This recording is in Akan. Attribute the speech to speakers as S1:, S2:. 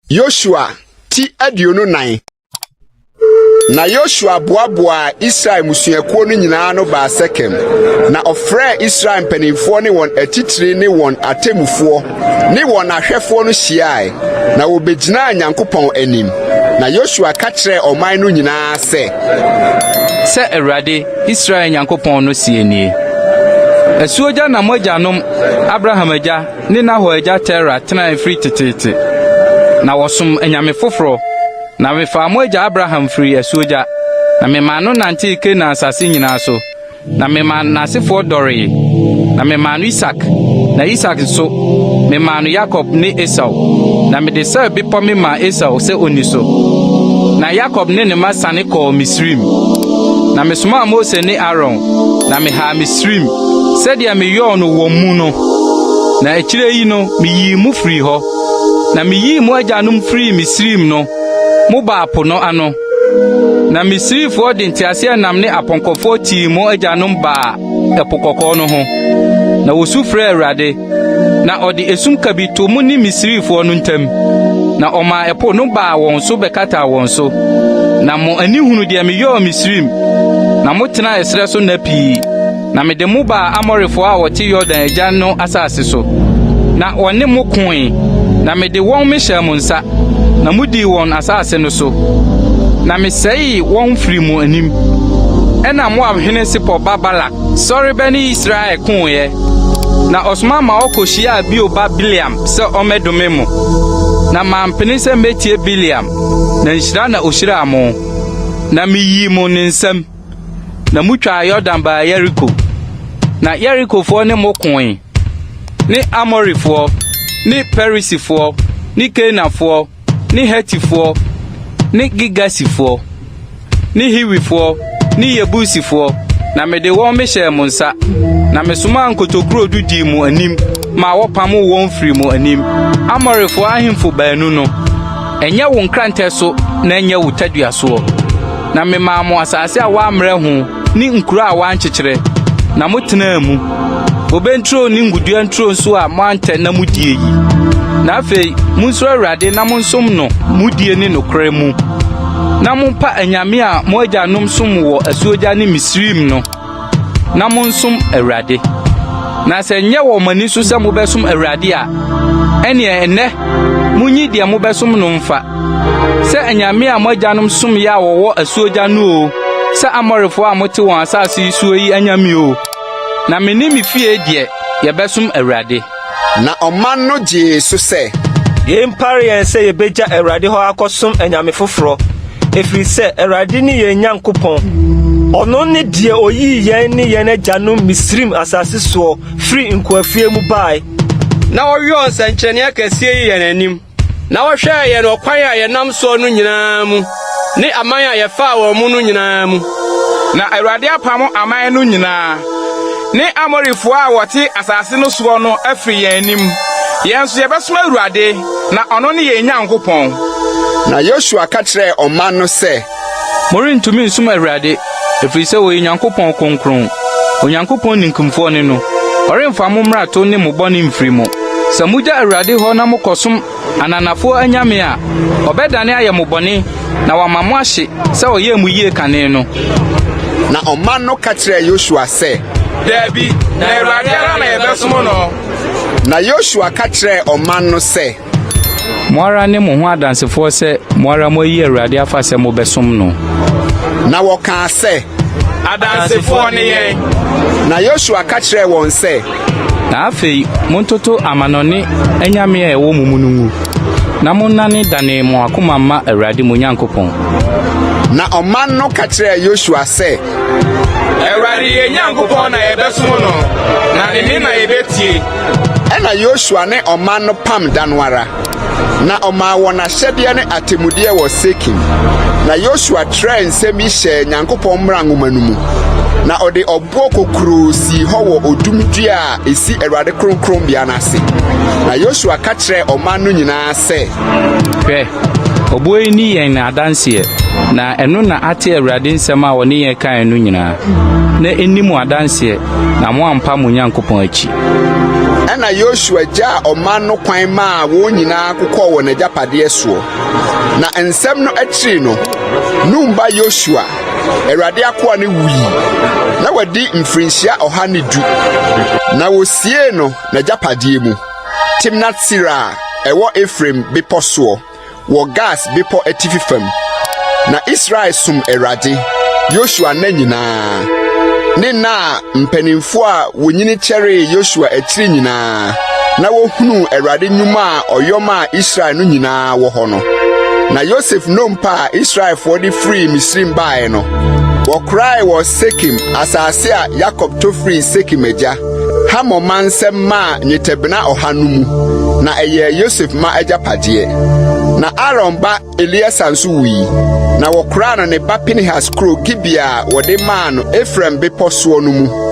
S1: Yosua ti aduonu nan na yosua boaboaa israel mmusuakuo no nyinaa no baa sekem na ɔfrɛɛ israel mpanimfoɔ ne wɔn atitire ne wɔn atemmufoɔ ne wɔn ahwɛfoɔ no hyiae na wɔbɛgyinaa nyankopɔn anim na yosua ka kyerɛɛ ɔman no nyinaa sɛ sɛ awurade
S2: Israel Nyankopɔn no seɛ nie, Asuogya na mo agyanom, Abraham agya ne Nahor agya Tera tenaeɛ firi teteete. Na wɔsomm anyame foforɔ. Na mefaa mo agya Abraham firii asuogya, na memaa no nantee Kanaan asase nyinaa so, na memaa n'asefoɔ dɔree. Na memaa no Isak, na Isak nso, memaa no Yakob ne Esau. Na mede Seir bepɔ memaa Esau sɛ ɔnni so. Na Yakob ne ne mma siane kɔɔ Misraim. Na mesomaa Mose ne Aaron, na mehaa Misraim sɛdeɛ meyɔɔ no wɔn mu no, na akyire yi no meyii mo firii hɔ. Na meyii mo agyanom firii Misraim no, mobaa po no ano. Na Misrifoɔ de nteaseɛnam ne apɔnkɔfoɔ tii mo agyanom baa Ɛpo Kɔkɔɔ no ho, na wɔsu frɛɛ Awurade. Na ɔde esum kabii too mo ne Misrifoɔ no ntam, na ɔmaa ɛpo no baa wɔn so bɛkataa wɔn so. Na mo ani hunu deɛ meyɔɔ Misrim, na motenaa ɛserɛ so nna pii. Na mede mo baa Amorifoɔ a wɔte Yordan agya no asase so, na wɔne mo koe, na mede wɔn mehyɛɛ mo nsa, na modii wɔn asase no so, na mesɛee wɔn firii mo anim. Ɛnna Moab hene Sipor ba Balak Sɔre bɛ ne Israel koeɛ, na ɔsoma ma wɔkɔhyiaa Beor ba Bileam sɛ ɔmmɛdome mo. Na mampene sɛ mɛtie Bileam, na nhyira na ɔhyiraa mo. Na meyii mo ne nsam, na motwaa Yordan baa Yeriko. Na Yerikofoɔ ne mo koe, ne Amorifoɔ, ne Perisifoɔ, ne Kanaanfoɔ, ne Hetifoɔ ne Girgasifoɔ ne Hiwifoɔ ne Yebusifoɔ, na mede wɔn mehyɛɛ mo nsa, na mesomaa nkotokuro du dii mo anim maa wɔpamoo wɔn firii mo anim, Amorifoɔ ahemfo baanu no. Ɛnyɛ wo nkrantɛ so na ɛnyɛ wo tadua soɔ, na memaa mo asase a wɔammrɛ ho. ne nkuro a wɔankyekyere, na motenaa mu, bobe nturo ne ngudua nturo nso a moantɛ na mudie yi. Na afei monsuro Awurade na monsom no mudie ne nokorɛ mu, na mompa anyame a mo agyanom som wɔ asuogya ne Misraim no, na monsom Awurade. Na sɛ nyɛ wɔ mo ani so sɛ mobɛsom Awurade a, ɛneɛ ɛnnɛ monyi deɛ mobɛsom no mfa. Sɛ anyame a mo agyanom somyɛ a wɔwɔ asuogya no o, sɛ Amorifo a mote wɔn asase yi soɔ yi anyame o, na me ne me fie deɛ, yɛbɛsom Awurade. Na ɔman
S1: no gyee so sɛ. Yei mpare yɛn
S3: sɛ yɛbɛgya Awurade hɔ akɔsom anyame foforɔ, ɛfiri sɛ Awurade ne yɛn Nyankopɔn. Ɔno ne deɛ ɔyii yɛn ne yɛn agyanom Misraim asase soɔ firii nkoafuie mu baeɛ. Na ɔyɔɔ
S4: nsɛnkyerɛnneɛ akɛseɛ yi yɛn anim. Na wɔhwɛɛ yɛn ɔkwan a yɛnam soɔ no nyinaa mu, ne aman a yɛfaa wɔn mu no nyinaa mu. Na Awurade
S5: apamo aman no nyinaa, ne Amorifoɔ a wɔte asase no soɔ no afiri yɛn anim. Yɛn nso yɛbɛsom Awurade, na ɔno ne yɛn Nyankopɔn. Na
S1: Yosua ka kyerɛɛ ɔman no sɛ. Morentumi
S2: nsom Awurade, ɛfiri sɛ ɔyɛ Nyankopɔn kronkron. Onyankopɔn ninkunfoɔ ne no. Ɔremfa mo mmarato ne mo bɔne mfiri mo. Sɛ mogya Awurade hɔ na mokɔsom ananafoɔ anyame a, ɔbɛdane ayɛ mo bɔne na wama mo ahye sɛ ɔyɛɛ mo yie kane no. Na
S1: ɔman no ka kyerɛɛ Yosua sɛ. Daabi,
S5: na Awurade ara na yɛbɛsom no. Na Yosua
S1: ka kyerɛɛ ɔman no sɛ. Mo ara
S2: ne mo ho adansefoɔ sɛ mo ara moayi Awurade afa sɛ mobɛsom no. Na
S1: wɔkaa sɛ, Adansefoɔ
S5: ne yɛn. Na Yosua ka
S1: kyerɛɛ wɔn sɛ. Na afei
S2: montoto amanɔne anyame a ɛwɔ mo mu no ngu, na monnane dane mo akoma mma Awurade mo Nyankopɔn. Na
S1: ɔman no ka kyerɛɛ Yosua sɛ. Awurade
S5: yɛn Nyankopɔn na yɛbɛsom no, na ne nne na yɛbɛtie. Ɛna
S1: Yosua ne ɔman no pam da no ara, na ɔmaa wɔn ahyɛdeɛ ne atemmudeɛ wɔ Sekim. Na Yosua trɛɛ nsɛm yi hyɛɛ Nyankopɔn mmara nwoma no mu, na ɔde ɔboɔ kokuroo sii hɔ wɔ odum dua a ɛsi Awurade kronkronbea no ase. Na Yosua ka kyerɛɛ ɔman no nyinaa sɛ, Hwɛ!
S2: Ɔboɔ yi ni yɛn adanseɛ, na ɛno na ate Awurade nsɛm a ɔne yɛn kaeɛ no nyinaa, na ɛnni mo adanseɛ, na moampa mo Nyankopɔn akyi. Ɛnna
S1: Yosua gyaa ɔman no kwan maa wɔn nyinaa kokɔɔ wɔn agyapadeɛ soɔ. Na nsɛm no akyiri no, Nun ba Yosua, Awurade akoa no wui. Na wadi mfirinhyia ɔha ne du, na wosiee no n'agyapadeɛ mu. Timnat-Sera a ɛwɔ Efraim bepɔ soɔ, wɔ Gaas Bepɔ atifi fam. Na Israel som Awurade, Yosua nna nyinaa, ne nna a mpanimfoɔ a wɔnyini kyɛree Yosua akyiri nyinaa, na wɔhunuu Awurade nnwuma a ɔyɔ maa Israel no nyinaa wɔ hɔ no. Na Yosef nnompa a Israelfoɔ de firii Misraim baeɛ no, wɔkorae wɔ Sekem, asase a Yakob tɔ firii Sekem agya. Hamor ma nsɛm maa nnwetɛbena ɔha no mu, na ɛyɛɛ Yosef ma agyapadeɛ. Na Aaron ba Eleasa nso wui, na wɔkoraa no ne ba Pinehas kuro Gibea a wɔde maa no Efraim bepɔ soɔ no mu.